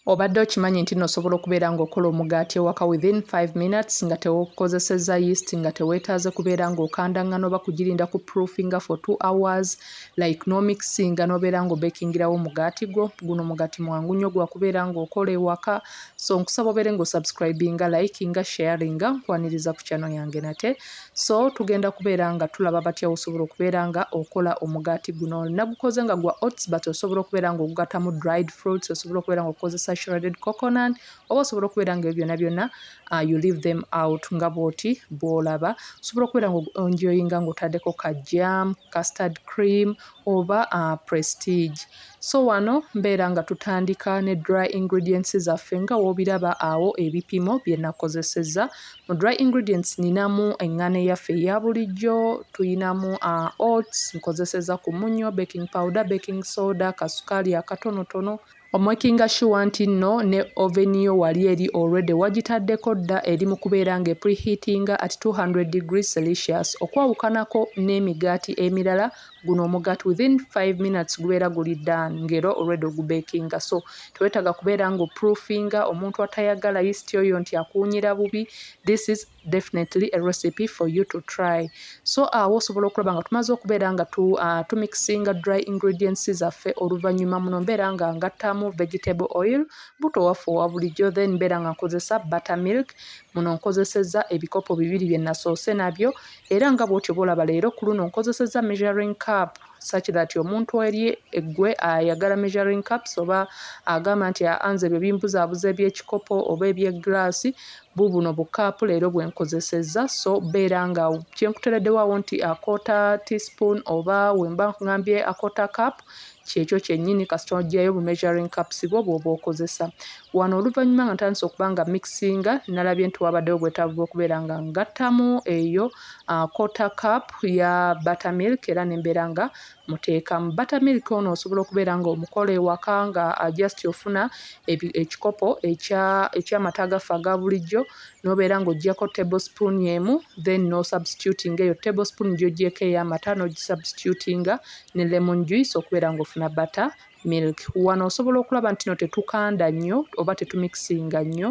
Obadde okimanyi nti no osobola okubeera nga okola omugaati ewaka within 5 minutes nga tewokozeseza yeast nga tewetaaze kubeera nga okanda ngano oba kugirinda ku proofinga for 2 hours like no mixinga nobeera nga obekingirawo omugaati gwo guno mugati mwangu nyo gwakubeera nga okola ewaka so nkusaba obeere nga osubscribinga likinga sharinga nkwaniriza ku channel yange nate so tugenda kubeera nga tulaba batya osobola okubeera nga okola omugaati guno nagukoze nga gwa oats but osobola okubeera nga ogugatamu dried fruits osobola okubeera nga okozesa shredded coconut oba osobola okubeera nga ebyo byonna byonna uh, you leave them out nga bwoti bwolaba osobola okubeera nga onjoyinga ngaotadeko ka jam custard cream oba uh, prestige so wano mbeera nga tutandika ne dry ingredients zaffe nga wobiraba awo ebipimo byenakozeseza Mu dry ingredients ninamu eŋŋano eyaffe eya bulijjo, tulinamu uh, oats, nkozeseza ku munnyo, baking powder, baking soda, kasukaali akatonotono, omakinga sure nti nno ne oven yo wali eri already wagitaddeko dda eri mu kubeera nga epreheatinga at 200 degrees celsius okwawukanako n'emigaati emirala guno omugat within 5 minutes gubeera guli dan ngero olwedde ogubekinga so tewetaga kubeera nga oproofinga omuntu atayagala yist oyo nti akuwunyira bubi this is definitely a recipe for you to try so awo osobola okulaba nga tumaze okubeera nga tu, uh, tumixinga dry ingredients zaffe oluvannyuma muno mbeera nga ngattamu vegetable oil buto waffe owa bulijjo then mbeera nga nkozesa butter milk muno nkozeseza ebikopo bibiri bye nasoose nabyo Era nga bwotyo bolaba leero kuluno nkozeseza measuring cup such that omuntu eri eggwe ayagala measuring cups oba agamba nti anze ebyo bimbuzabuza ebyekikopo oba ebyegglaasi bubuno bukaapu leero bwenkozesezza so beera nga kyenkutereddewawo nti akoota teaspoon oba wemba ngambye akoota cap kyekyo kyennyini kasita oggyayo bu measuring cups bwo bw'oba okozesa. Wano oluvannyuma nga ntandise okuba nga mixinga nalabye nti wabaddewo obwetaavu bw'okubeera nga ngattamu eyo quarter cup ya butter milk era ne mbeera nga muteekamu. Butter milk ono osobola okubeera nga omukola ewaka nga just ofuna ekikopo eky'amata agaffe aga bulijjo n'obeera ng'oggyako table spoon emu then n'osubstitutinga eyo table spoon gy'oggyeeko ey'amata n'ogisubstitutinga ne lemon juice okubeera ng'ofuna butter milk. Wano osobola okulaba nti no tetukanda nnyo oba tetumikisinga nnyo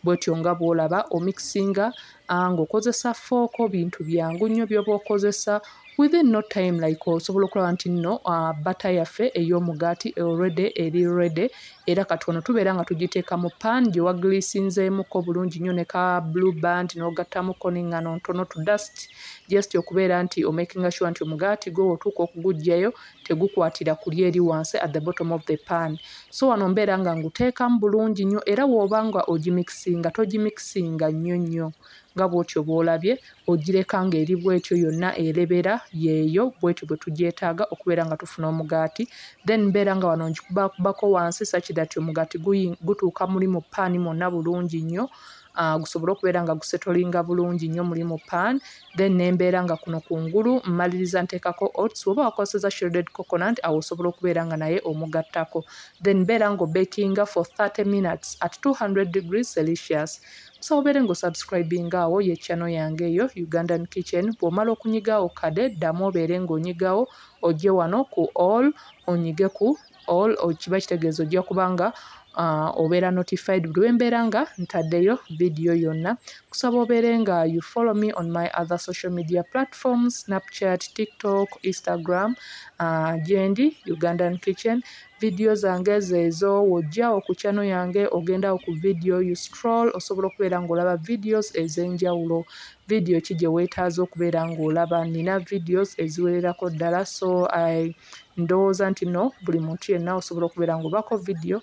bwetyo nga bw'olaba omikisinga ah, ng'okozesa fooko bintu byangu nnyo by'oba okozesa within no time like osobola okulaba nti nno uh, bata yaffe ey'omugaati already eri ready era kati wano tubeera nga tugiteeka mu pan gye wagiliisinzeemuko bulungi nnyo ne ka blue band n'ogattamuko n'eŋŋano ntono to dust just okubeera nti omakinga sure nti omugaati gwo wotuuka okugujjayo tegukwatira kuli eri wansi at the bottom of the pan so wano mbeera nga nguteekamu bulungi nnyo era wooba nga ogimikisinga togimikisinga nnyo nnyo nga bwotyo bwolabye ogireka nga eri bwetyo yonna erebera yeeyo bwetyo bwe tugyetaaga okubeera nga tufuna omugaati then mbeera nga wano ngikubakubako wansi sakidati omugaati gutuuka muli mu paani mwonna bulungi nnyo uh, gusobole okubeera nga gusetolinga bulungi nnyo mulimu pan then nembeera nga kuno kungulu mmaliriza nteekako oats oba wakozeseza shredded coconut awo osobola okubeera nga naye omugattako then beera nga obekinga for 30 minutes at 200 degrees celsius osobola obeere nga osubscribinga awo ye channel yange eyo ugandan kitchen bw'omala okunyigawo kade ddamu obeere ng'onyigawo ojje wano ku all onyige ku all kiba kitegeeza ojja kuba nga uh, obeera notified buli wembeera nga ntaddeyo vidiyo yonna kusaba obeere nga you follow me on my other social media platforms snapchat tiktok instagram uh, gyendi ugandan kitchen vidiyo zange zeezo wojja okukyano yange ogendawo ku vidiyo you stroll osobola okubeera ngaolaba videos ez'enjawulo video ki gye weetaaze okubeera ng'olaba nina videos eziwererako ddala so i ndowooza nti no buli muntu yenna osobola okubeera ng'obaako video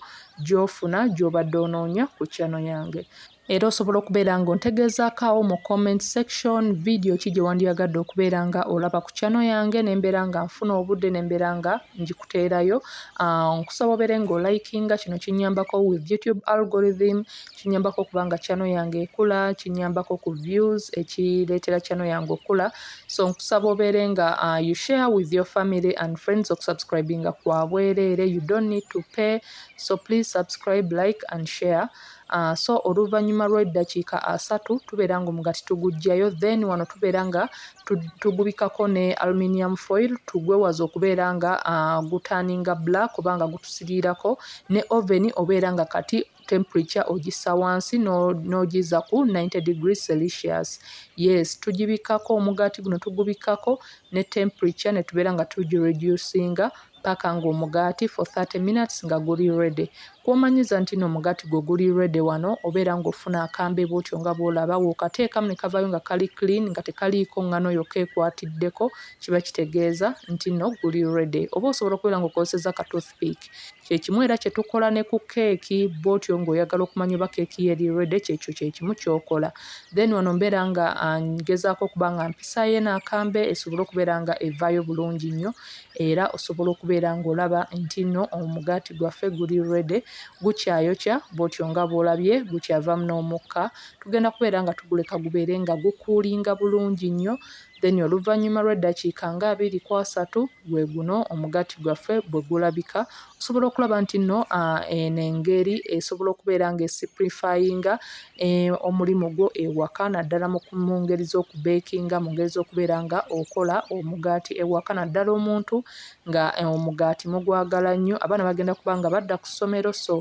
gy'ofuna gy'obadde onoonya ku channel yange era osobola okubeera ng'ontegeezaakaawo mu comment section video ki gye wandyagadde okubeera nga olaba ku channel yange ne mbeera nga nfuna obudde ne mbeera nga ngikuteerayo ah, nkusaba obeere ng'olikinga kino kinnyambako with youtube algorithm kinyambako okuba nga channel yange ekula kinyambako ku views ekireetera channel yange okula so nkusaba obeere nga uh, you share with your family and friends okusubscribinga kwa bwereere you don't need to pay so please subscribe like and share Uh, so oluvannyuma lw'eddakiika asatu tubeera nga omugati tugujjayo then wano tubeera nga tugubikako ne aluminium foil tugwewaza okubeera nga uh, gutaninga black kubanga gutusiriirako ne oven obeera nga kati temperature ogissa wansi n'ogizza ku 90 degree celsius yes tugibikkako omugaati guno tugubikkako ne temperature ne tubeera nga tugireducinga paka ng'omugaati for 30 minutes nga guli ready kwomanyiza nti no omugaati gwe guli ready wano obeera ng'ofuna akambe bwotyo nga bwolaba wokateekamu ne kavayo nga kali clean nga tekaliiko ngano yokka ekwatiddeko kiba kitegeeza nti no guli ready oba osobola okubeera ng'okozeseza ka toothpick Kye kimu era kye tukola ne ku keeki, bw'otyo ng'oyagala okumanya oba keeki yo eri ready, ky'ekyo kye kimu ky'okola. Then wano mbeera nga ah, ngezaako okuba nga mpisaayo eno akambe esobole okubeera nga evaayo bulungi nnyo era osobola okubeera ng'olaba nti nno omugaati gwaffe guli ready, gukyayokya bw'otyo nga bw'olabye gukyavaamu n'omukka. Tugenda kubeera nga tuguleka gubeere nga gukuulinga bulungi nnyo Then oluvanyuma lw'eddakiika nga abiri ku asatu gwe guno omugati gwaffe bwe gulabika. Osobola okulaba nti nno eno engeri esobola okubeera nga esiprifayinga e, omulimu gwo ewaka naddala mu ngeri z'okubeekinga, mu ngeri z'okubeera nga okola omugaati ewaka naddala omuntu nga e, omugaati mugwagala nnyo. Abaana bagenda kuba nga badda ku ssomero so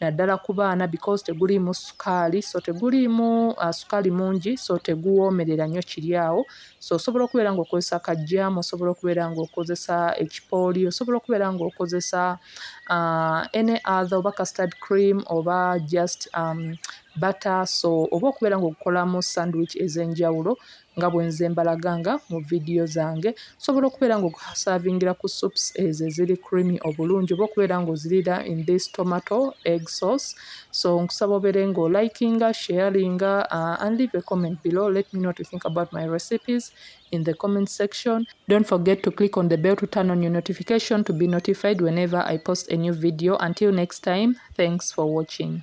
naddala ku baana because teguliimu sukaali so teguliimu uh, sukaali mungi so teguwoomerera nnyo kiri awo so osobola okubeera ng'okozesa kajjaamu osobola okubeera ng'okozesa ekipooli osobola okubeera ng'okozesa uh, any other oba custard cream oba just um, bata so oba okubeera ng'okukolamu sandwich ez'enjawulo nga bwenze mbalaganga mu vidiyo zange osobola okubeera nga okusavingira ku soups ezo eziri creamy obulungi oba okubeera nga ozirira in this tomato egg sauce so nkusaba obeere nga olikinga sharinga uh, and leave a comment below let me know to think about my recipes in the comment section don't forget to click on the bell to turn on your notification to be notified whenever i post a new video until next time thanks for watching